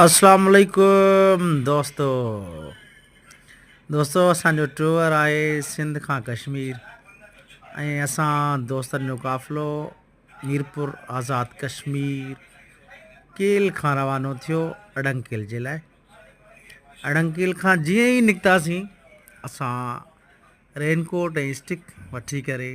اسلام عليڪم دوستو دوستو اسان جو ٽوئر آهي سنڌ کان ڪشمير ۽ اسان دوستن جو قافلو ميرپور آزاد ڪشمير کان کان روانو ٿيو اڙنڪيل جي لاء اڙنڪيل جيئن ئي نڪتاسين اسان رينڪوٽ ۽ اسٽڪ وٺي ڪري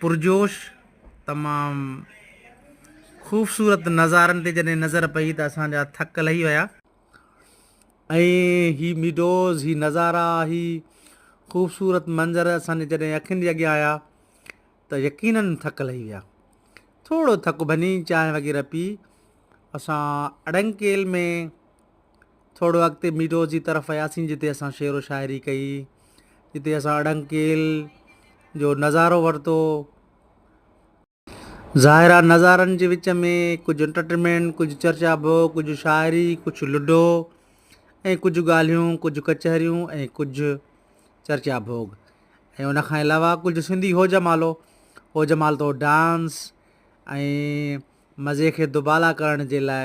پرجوش تمام خوبصورت نظارن تي جڏهن نظر پئي ته اسان جا ٿڪ لهي ويا ۽ هي ميڊوز هي نظارا هي خوبصورت منظر اسان جي جڏهن اکين جي اڳيان آيا ته يقيناً ٿڪ لهي ويا ٿورو ٿڪ ڀڃي چانهه وغيره پي اسان اڙنڪيل ۾ ٿورڙو اڳتي ميڊو جي طرف وياسين جتي اسان شعر و شاعري ڪئي جتي اسان اڙنگڪيل جو نظارو ورتو ظاهر آ نظارن جي وچ ۾ ڪجهه انٽرٽينمينٽ ڪجهه چرچا ڀو ڪجهه شاعري ڪجهه لڊو ۽ ڪجهه ڳالهيون ڪجهه ڪچهريون ۽ ڪجهه چرچا ڀوڳ ۽ ان کان علاوه ڪجهه سنڌي هو جمالو هو جمال تو ڊانس ۽ مزي کي دوبالا ڪرڻ جي لاء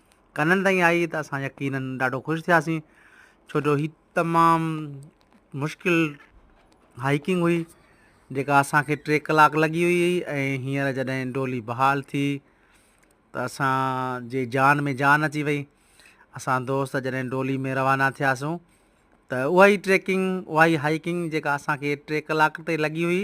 ڪنن تائين آئي ته اسان يقيناً ڏاڍو خوش ٿياسين ڇو جو هي تمام مشڪل هائيڪنگ هئي جيڪا اسانکي ٽي ڪلاڪ لڳي هئي ۽ هينئر جڏهن ڊولي بحال ٿي ته اسان جي جان ۾ جان اچي وئي اسان دوست جڏهن ڊولي ۾ روانا ٿياسون ته اها ئي ٽريڪنگ اها ئي هائيڪنگ جيڪا اسانکي ٽي ڪلاڪ تي لڳي هئي